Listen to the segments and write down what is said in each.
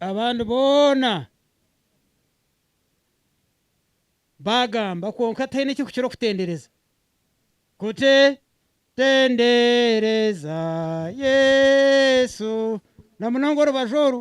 Abandi boona baagamba kwonka ataine ekirikukira okutendereza kuti, Tendereza Yesu, na munonga orubaju oru.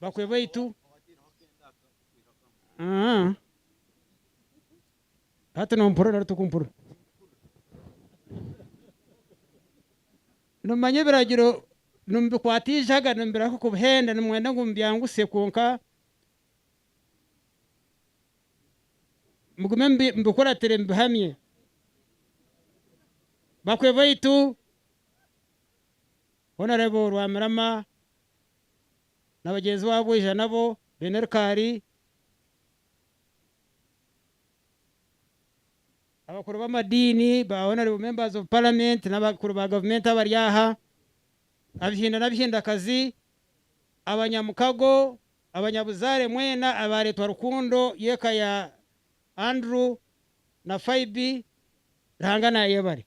bakwe baitu Ah. hati nompurira nari tokumpurira nimumanya ebiragiro nimubikwata eijaga nimubireka kubuhenda nimwenda ngu mubyangutse kwonka mugume mubi- mubikuratire mubihamye bakwe baitu Honarebo Rwamirama na bagyenzi baabo bwija nabo baine rikaari, abakuru b'amadiini, ba Honarebo Members of Parliament n'abakuru ba gavumenti abari aha, Abahinda n'Abahindakazi, abanyamukago, abanyabuzaare mwena abaareetwa rukundo y'eka ya Andrew na Phoibe, Ruhanga naayebare.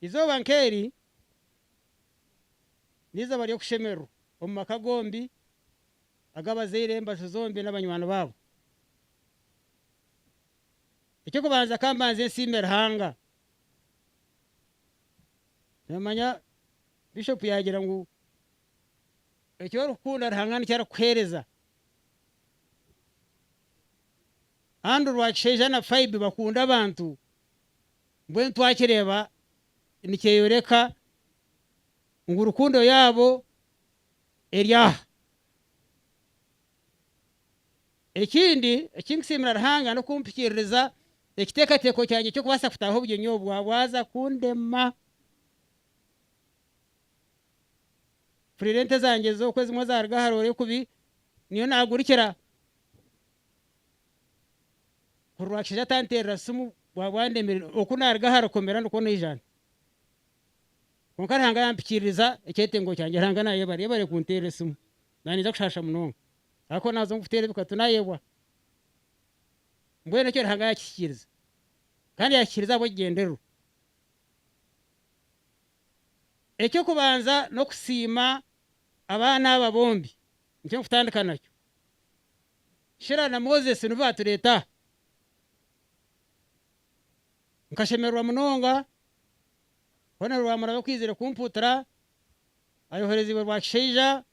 Eizooba nk'eri n'eizooba ry'okushemererwa omu maka gombi ag'abazaire, embaju zombi n'abanywani baabo. Eky'okubanza ka mbanze nsiime Ruhanga. Noomanya Bishop yaagira ngu eki orikukunda Ruhanga nikyo arikukuheereza. Andrew Rwakishaija na Phoebe bakunda abantu. Mbwenu twakireeba nikyeyoreka ngu rukundo yaabo eri aha. Ekindi eki ndikusiimira Ruhanga n'okumpikiririza ekiteekateeko kyangye ky'okubaasa kutaaha obugyenyi obu bwabwaza kundema. Mpurira ente zangye z'oku ezimwe zaaruga aha roore kubi niyo naagurikira. Kuri Rwakishaija atanteerera simu bwaba andemerire oku naaruga aha rukomera nikwo naija nta? Kwonka Ruhanga yaampikiririza ekyetengo kyangye. Ruhanga naayebare. Yebare kunteera esimu. Naaniija kushaasha munonga. Ahakuba naaza omu kuteera ebikatu naayebwa. Mbwenu ekyo Ruhanga yaakihikiriza. Kandi yaakihikiriza ahabw'ekigyendererwa. Eky'okubanza n'okusiima abaana aba bombi Eky'okutandika nakyo, Shira na Moses nibo baatureeta aha. Nkashemererwa munonga kubonera Rwamuraba okwizire kumpuutira ayohoreziibwe Rwakishaija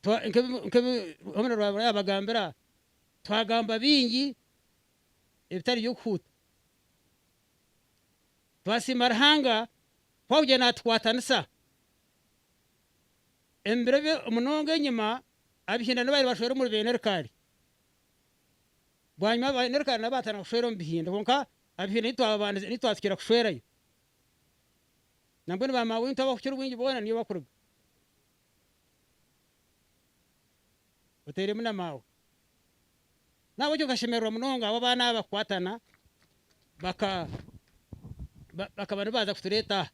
nk'ebi Rwamuraba Rwamuraba yaabagambira. Twagamba bingi ebitari by'okuhuuta. Twasiima Ruhanga ku arikugyenda naatukwatanisa. Omu biro bye munonga enyima, ab'eihindani babaire bashwera omuri beene Rikaali. Bwanyima beene Rikaali nabo baatandika kushwera omu bihinda. Kwonka ab'eihindani titwababandize, titwatsikira kushwerayo. Nambwenu ba maama waitu abakukira obwingi boona niyo bakuruga. Oteeremu na maawe. Nahabw'ekyo nkashemererwa munonga ahu abaana abo bakukwatana baka, ba, bakaba nibaza kutureeta aha.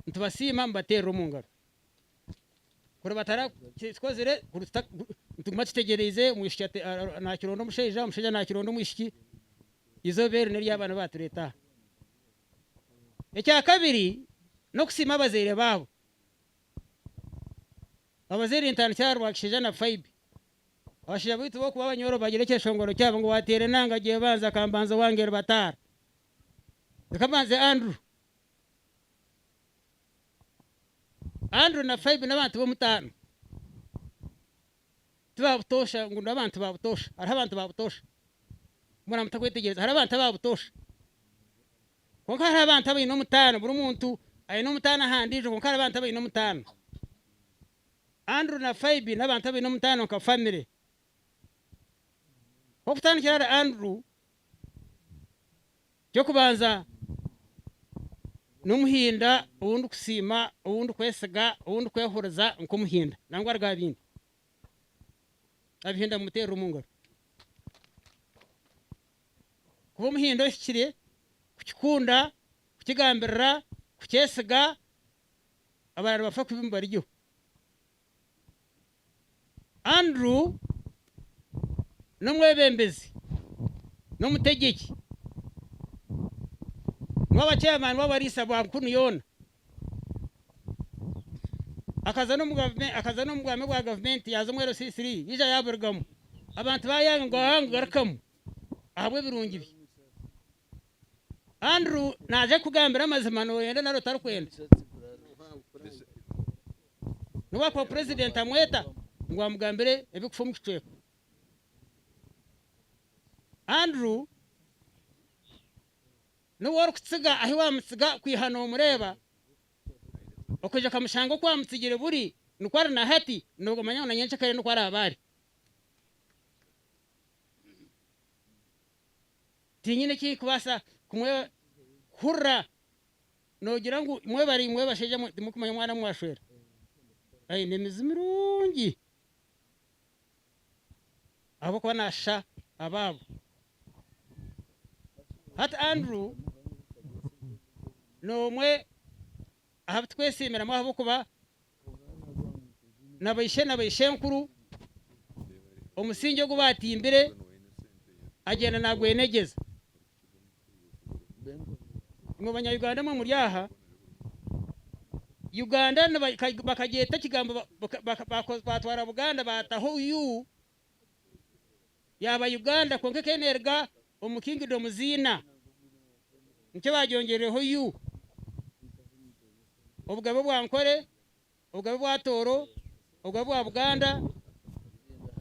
nitubasiima mubateerera omu ngaro kuri batarakikozire nituguma tutegyereize omwishiki nakironda omushaija omushaija nakironda omwishiki eizooba eri neryabaana batureeta aha ekyakabiri n'okusiima abazaire baabo abazaire nintandikira aha Rwakishaija na Faibi abashaija baitu bokuba abanyoro bagira ekishongoro kyabo ngu wateera enanga gyebanza akambanza owange rubataara Reka mbanze Andrew. Andrew na Phoebe n'abantu b'omutaano. Ti ba butoosha ngu n'abantu ba butoosha. Hariho abantu ba butoosha. Mbwenu mutakwetegyereza. Hariho abantu aba butoosha. Kwonka hariho abantu abaine omutaano. Buri muntu aine omutaano aha ndiijo kwonka hariho abantu abaine omutaano. Andrew na Phoebe n'abantu abaine omutaano nka famire. Ku okutandikira ahari Andrew, Eky'okubanza, n'Omuhinda ou ndikusiima, ou ndikwesiga, ou ndikwehuriza nk'Omuhinda nangwa aruga aha bindi. Abahinda mumuteerere omu ngaro. Kuba Omuhinda ohikire, kukikunda, kukigambirira, kukyesiga, abarara nibafa kubi mubarigyeho. Andrew n'omwebembezi n'omutegyeki n'owabakyeeremaani b'abariisa ba Nkunu yoona. Akaza n'omu bwami bwa gavumenti yaaza omu LCC yaija yaaburugamu. Abantu baayanga ngu ahaa ngugarukamu ahabw'ebirungi bye. Andrew naaza kukugambira amazima nooyenda nari otarikwenda. N'obu akuba purezidenti amweta ngu amugambire ebikufa omu kicweka. Andrew n'obu orikutsiga ahi waamutsiga kwiha noomureeba okaija okamushanga oku waamutsigire buri nikwo ari na hati noomanya ngu na nyenkya kare nikwo araabe ari. tinyine eki kubaasa kumwebazisa. Hurira, noogira ngu imwe bari imwe bashaija mwe timurikumanya omwana omu mwashwera? Aine emizi mirungi ahabw'okuba naashisha abaabo. Hati Andrew n'omwe. ahabu twesiimiramu ahabw'okuba na baishe na baishenkuru omusingi ogu baatimbire agyenda naagwenegyeza. Imwe Banya-Uganda emwe muri aha, Uganda bakagyeta ekigambo baatwara Buganda baataho u, yaaba Uganda kwonka ekaba neeruga omu Kingdom ziina, nikyo baagyongyerireho U, Obugabe bwa Ankole, Obugabe bwa Tooro, Obugabe bwa Buganda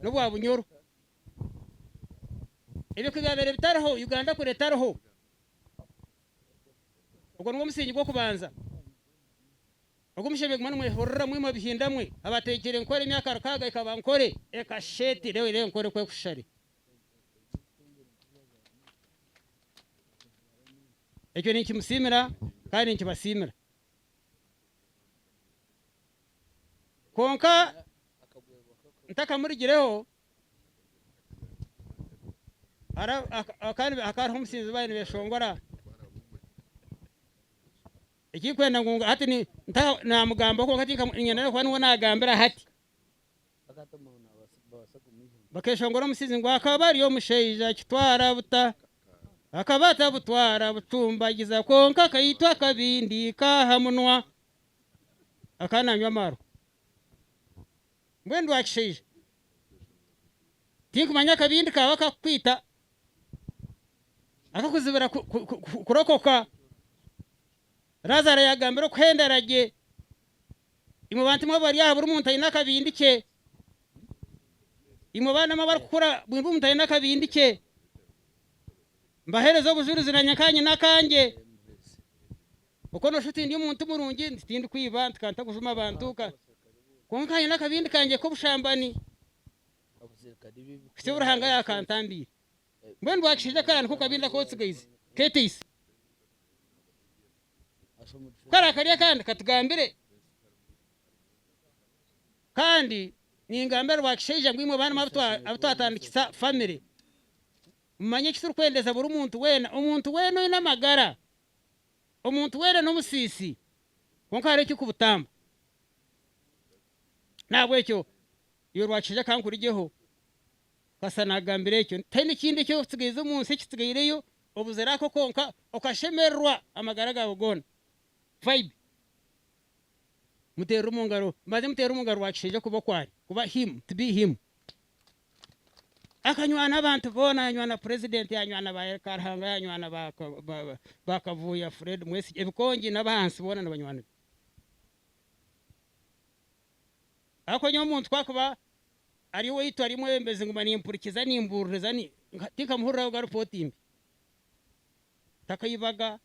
n'obwa Bunyoro. Ebyo ku byabaire bitariho, Uganda kuri etariho. Ogwo nigwo musingi gw'okubanza. Ogu mushenyi guma nimwehurira mwe imwe bihinda mwe, abateigire nkore emyaka rukaaga ikaba nkore. Eka sheti leo ire nkore kwe kushare. Ekyo ninkimusiimira kandi ninkibasiimira. Kwonka ntakamurigireho ara, aka, kandi hakaba hariho omusinzi baabaire nibeshongora. Ekirikwenda ngu hati ni ntaho naamugambaho, kwonka tinka niinyenda n'okuba niwe naagambira hati. Bakeeshongora omusizi ngu akaba ari omushaija kitwara buta. Akaba atabutwara butumbagiza kwonka akaitwa akabindi ka aha munwa akaba naanywa amaarwa. Mbwenu ndi wa kishaija, tinkumanya akabindi kaaba kakukwita akakuzibira kurokoka. Lazaro yagambire okuhendera gye, imwe bantu imwe abari aha buri muntu aine akabindi kye, imwe baana mwe abarikukura buri muntu aine akabindi kye, mbahereza obujurizi nanye nkanyine akangye. Okwo noshusha oti ndi omuntu murungi nti tindikwiba nti ka ntakujuma abantu, kwonka nkanyine akabindi kangye k'obushambani. Kityo Ruhanga yaakantambiire. Mbwenu bwakishaija kara niko kabindi akootsigaise keeteise. Kara kari akandi katugambire kandi ningambira bwakishaija ngu imwe baana mwe abu twatandikisa famire mumanye eki turikwendeeza buri muntu weena omuntu weena oine amagara omuntu weena n'omusiisi kwonka hariho ekirikubutamba nahabwekyo Iwe rwakishaija ka nkurigyeho. Kasita naagambira ekyo, taine kindi eki orikutsigaiza omu nsi ekitsigaireyo, obuzire ako konka, okashemererwa amagara gaawe goona. Vibe. Muteerere omu ngaro, mbanze muteerere omu ngaro rwakishaija kuba oku ari, kuba him, to be him. Akanywana abantu boona, yanywana purezidenti, yanywana ba El Karhanga, yanywana ba ba Kavuuya, Fred Mwesigye, ebikongi n'abahansi boona nibanywana be. Ahakuba nyowe omuntu ku akuba ari owaitu ari omwebembezi nguma nimpurikiza nimbuuririza tinkamuhuriraho ga ripooti mbi. Takaibaga,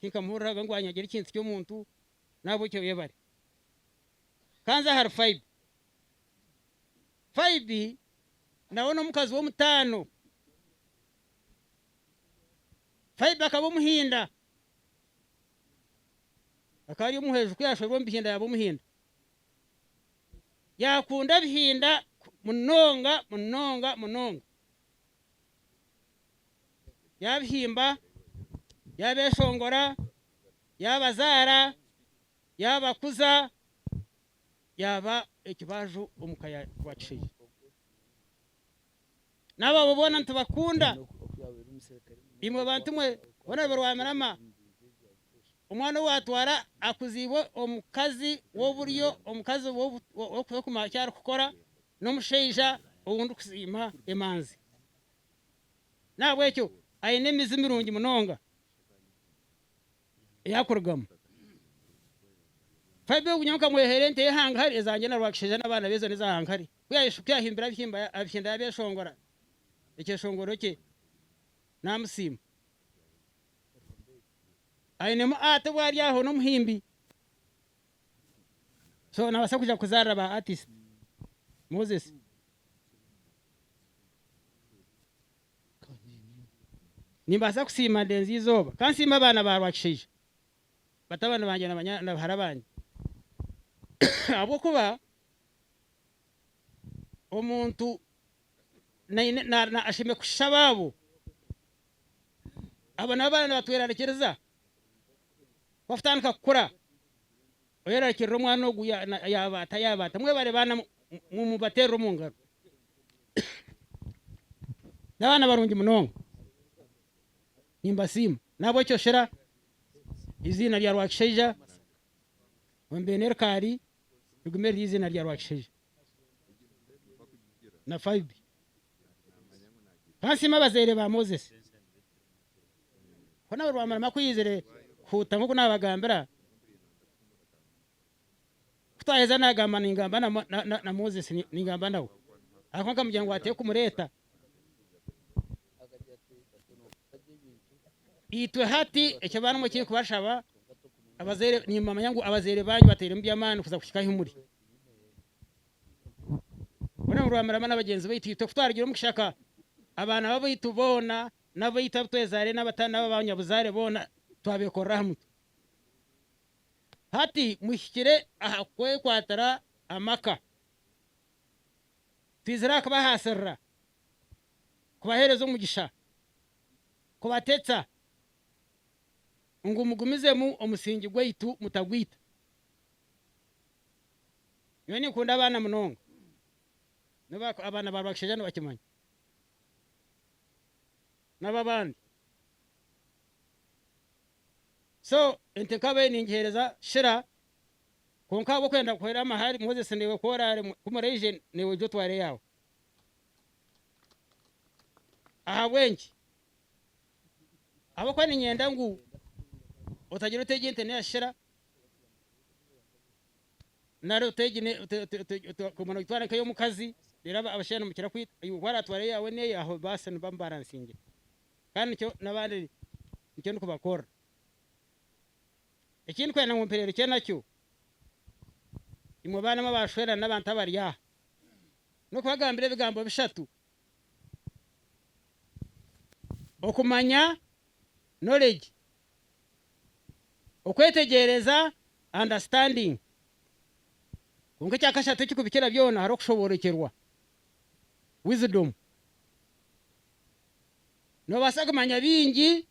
tinkamuhuriraga ngu anyagire ekintu ky'omuntu. Nahabwekyo yebare. Ka nze ahari Faibi. Faibi nawe n'omukazi w'omutaano. Faibi akaba Omuhinda. Akaba ari omuhwezi ku yaashorwa omu bihinda yaaba omuhinda. Yaakunda ebihinda munonga munonga munonga. Yaabihimba, yaabeeshongora, yaabazaara, yaabakuza, yaaba ekibaaju omu ka ya Rwakishaija. n'abaabo boona nitubakunda. Imwe bantu mwe boona be Rwamirama, omwana ou waatwara akuziibwe omukazi w'oburyo, omukazi w'okukuma eki arikukora n'omushaija ou ndikusiima emanzi. N'ahabw'ekyo aine emizi mirungi munonga ei arikurugamu. Fabio, Nyowe nkamweheera ente ye hangahari, ezangye na Rwakishaija n'abaana be zoona eza hangahari. Ku yaayeshuka yahimbira abihimba abihenda yaabeeshongora ekyeshongoro kye naamusiima. Ainemu ati obu ari aho n'omuhimbi. So naabaasa kuja kuzaarira ba artist Moses. Nimbaasa kusiima ndenze eizooba. Ka nsiime abaana ba Rwakishaija, batabani bangye na bahara bangye ahabw'okuba omuntu ashemereire kushisha abaabo. Abo nabo abaana nibatwerarikiriza ku batutandika kukura oyerarikirira omwana ogu yaabaata yaabaata. Mwebare baana mumubateerere omu ngaro. N'abaana barungi munonga nimbasiima. Nahabw'ekyo shera eiziina rya Rwakishaija ombe n'erikaari. rigume riri eiziina rya Rwakishaija na Faibi. Ka nsiime abazaire ba Moses. Ku naabe Rwamurama akwizire kuhuuta nk'oku naabagambira, ku twaheza naagamba ningamba na Moses ningamba nawe. Ahakuba nkamugira ngu ateekumureeta. Itwe hati eki abaana mukiri kubashaba abazaire nimumanya ngu abazaire banyu bateiremu by'amaani kuza kuhika ahi muri. Boona nibamurama na bagyenzi baitu. Itwe ku twarugire omu kishaka abaana b'abaitu boona n'abaitu abu twezaire n'aba banyabuzaare boona twabeekorera aha mutwe. Hati muhikire aha kwekwatira amaka. Twizire aha kubahaasirira, kubaheereza omugisha, kubatetsa ngu mugumizemu omusingi gwaitu mutagwita. Nyowe ninkunda abaana munonga, n'obu abaana ba Rwakishaija nibakimanya, n'ab'abandi. So ente nkaba eyi ningiheereza kira. Kwonka ahabw'okwenda kuhwera amahari, Moses naiwe ku oraare ku muraije, naiwe oije otware eyaawe. Ahabw'enki? Ahabw'okuba niinyenda ngu otagira ota egi ente neeyashira, nari ota egi ne- ota- ota- ota- ota- okaguma noogitwara nk'ey'omukazi, reero aba- abashaija nimukira kwita iwe ku araatware eyaawe n'eye, aho baasi niba mubaransingire. Kandi nikyo n'abandi nikyo ndikubakorera. Eki ndikwenda ngu mpereerukye nakyo, imwe baanamwe abaashwerana n'abantu abari aha, n'okubagambira ebigambo bishatu, okumanya, knowledge, okwetegyereza, understanding, kwonka ekya kashatu ekirikubikira byona hariho okushoborokyerwa, wisdom. Noobaasa kumanya bingi.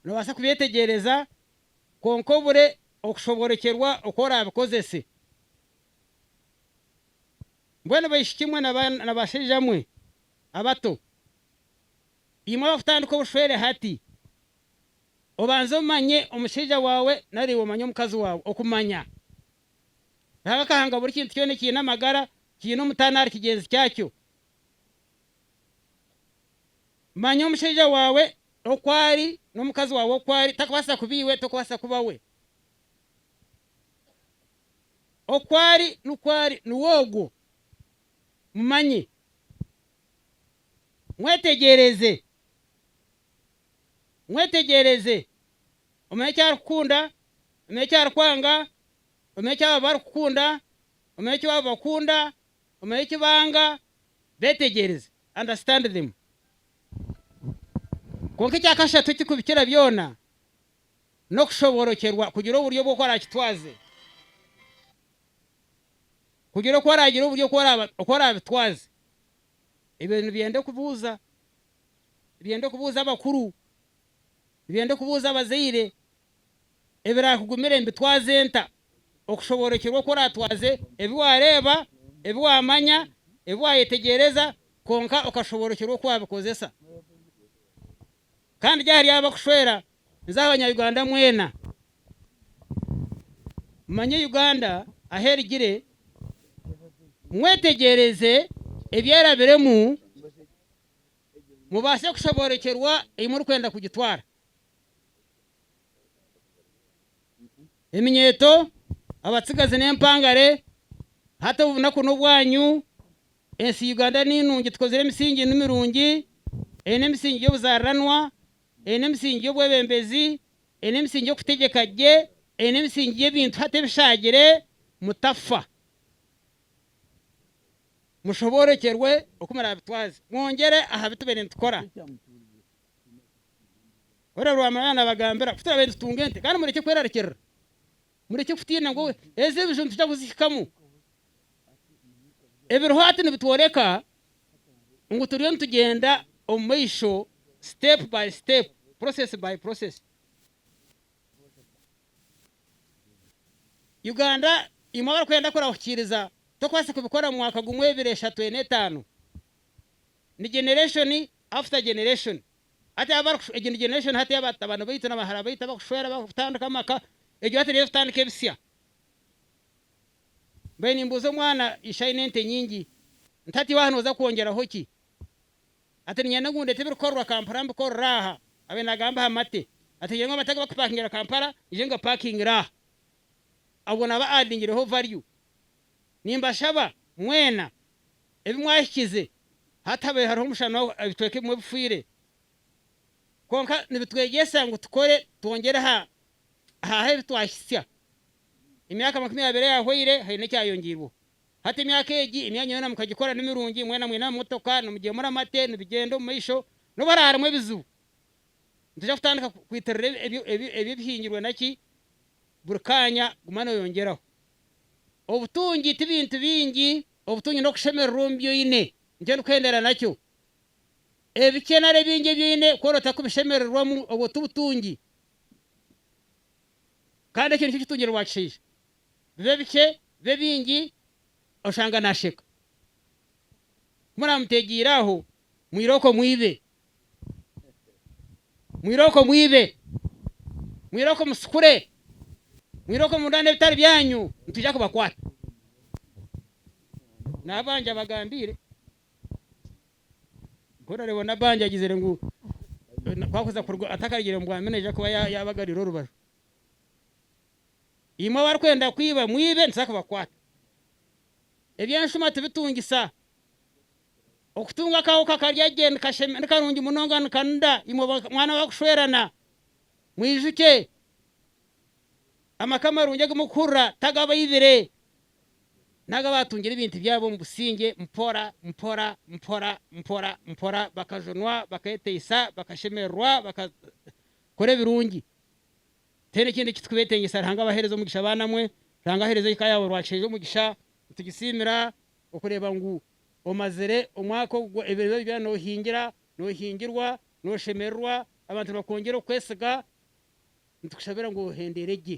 Noobaasa kubyetegyereza, kwonka obure okushoboorokyerwa oku oraabikozese. Mbwenu baishikimwe na bashaijamwe abato, imwe abakutandika obushwere hati, obanze omanye omushaija waawe nari iwe omanye omukazi waawe. Okumanya. Ruhanga akahanga buri kintu kyona ekiine amagara, kiine omutaano ahari kigyenzi kyakyo. Manya omushaija waawe oku ari n'omukazi waawe oku ari, takubaasa kuba iwe, tokubaasa kuba we. Oku ari nikwo ari, niwe ogwo. Mumanye. Mwetegyereze. Mwetegyereze. Omanye eki arikukunda, omanye eki arikwanga, omanye eki abo abarikukunda, omanye eki abo bakunda. Omare eki banga, beetegyereze, understand them. Kwonka ekya kashatu ekirikubikira byona, n'okushoborokyerwa kugira oburyo bw'oku araakitwaze. Kugira oku araagira oburyo oku araabitwaze. Ebyo nibyenda okubuuza, nibyenda okubuuza abakuru. Byo ndikubuuza abazaire, ebiraakugumire mbitwaze nta? Okushoboorokyerwa oku oraatwaze ebi waareeba, ebi waamanya, ebi waayetegyereza kwonka okashoboorokyerwa oku waabikozesa. Kandi gye ahari abo bakushwera nze aha Banya-Uganda mwena. Mumanye Uganda ahu erigire, mwetegyereze ebyerabiremu. mubaase kushoboorokyerwa ei murikwenda kugitwara. Eminyeeto, abatsigazi n'empangare, hati obunaku n'obwanyu, ensi Uganda ni nungi, tukozire emisingi ni mirungi, eine emisingi y'obuzaariranwa, eine emisingi y'obwebembezi, eine emisingi y'okutegyeka gye, eine emisingi y'ebintu hati ebishaagire, mutafa. mushoboorekyerwe oku muraabitwaze, mwongyere aha bi tubaire nitukora. Horeebu Rwamurang'a yaaba naabagambira ku turabaire nitutunga ente, kandi murekye kwerarikirira, murekye kutiina ngu ezi ebiju nitwija kuzihikamu. Ebiriho hati nibitworeka ngu turiyo nitugyenda omu maisho, step by step, process by process. Uganda imwe abarikwenda kurahukiiriza tokwaasa kubikora mu mwaka gumwe ebiri eshatu ena etaano ni generation after generation hati aba abarikushu egi ni generation hati aba batabani baitu na bahara baitu abarikushwera barikutandika amaka egyo hati niyo erikutandika ebisya mbaire nimbuuza omwana ishe aine ente nyingi nti hati iwe aha nooza kwongyeraho ki? Ati, Niinyenda ngu ndeete ebirikorerwa Kampala mbikorere aha. Abaire naagamba aha mate. Ati, Ogira ngu abantu agu bakupakingira Kampala, ngye ngabapakingire aha. Obwo naaba addingireho value. Nimbashaba mwena ebi mwahikize hatabaire hariho omushana ebicweka ebimwe bifiire. Kwonka nibitwegyesa ngu tukore twongyere aha aha ebi twahitsya. Emyaka makumi abiri eyahwaire haine ekyayongiirweho. Hati emyaka egi, emyanya yoona mukagikora ni mirungi, mwena mwine amamotoka, nimugyeemura amate, nibigyenda omu maisho, n'obu hariho harimu ebizibu, nitoija kutandika kwitirira ebyo ebihingirwe naki, buri kaanya guma nooyongyeraho. Obutungi ti bintu bingi, obutungi n'okushemererwa omu bi oine, nikyo ndikuhendera nakyo. Ebikye nari ebingi ebi oine ku orootaho kubishemererwamu, obwo ti butungi, kandi ekyo nikyo kitungire waakishaija. bibe bikye bibe bingi oshanga nasheka. Ku muramutegiire aho mwire okwo mwibe. Mwire okwo mwibe. Mwire okwo musikure. Mwire okwo mundane ebitari byanyu nitwija kubakwata. Nabanja abagambiire ku orareeba nabanja agizire ngu ku akuza kuruga atakarugire omu bwami nayija kuba yabagarira orubaju. Imwe abarikwenda kwiba mwibe nituza kubakwata. Ebyenshuma tibitungisa. Okutunga akahooka karya gye ni karungi munonga nikanuda imwe mwana abarikushwerana. Mwijukye, amaka amarungi agu murikuhurira taga abaibire, n'agu abaatungire ebintu byabo omu busingye mpora mpora mpora mpora mpora bakajunwa, baketeisa, bakashemererwa, bakakora ebirungi. Tihaine ekindi eki turikubeetengyesa Ruhanga abaheereze omugisha baana mwe. Ruhanga aheereze eka yaawe Rwakishengyya omugisha. Nitugisiimira okureeba ngu omazire omwaka ogu ebiremezo byona noohingira, noohingirwa, nooshemererwa, abantu nibakwongyera okukwesiga. Nitukushabira ngu ohendeere gye.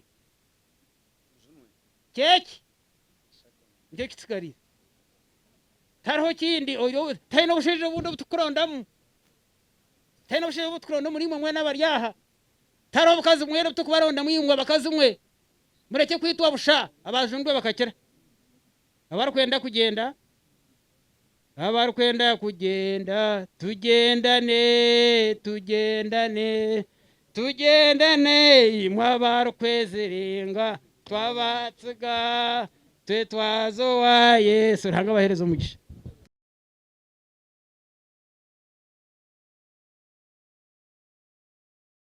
Ky'eki. Nikyo kitsigariire. Tihariho kindi. Tihaine obushaija obundi obu turikurondamu. Tihaine obushaija obu turikuronda omuriimwe mwena abari aha. Tari obukazi mwena obuturikubarondamu imwe abakazi mwe, murekye kwitwa busha, abaajundwe bakakira. Abarikwenda kugyenda, abarikwenda kugyenda, tugyendane, tugyendane, tugyendane, imwe abarikweziringa, twabatsiga, twetwaza owa Yesu. Ruhanga abaheereze omugisha.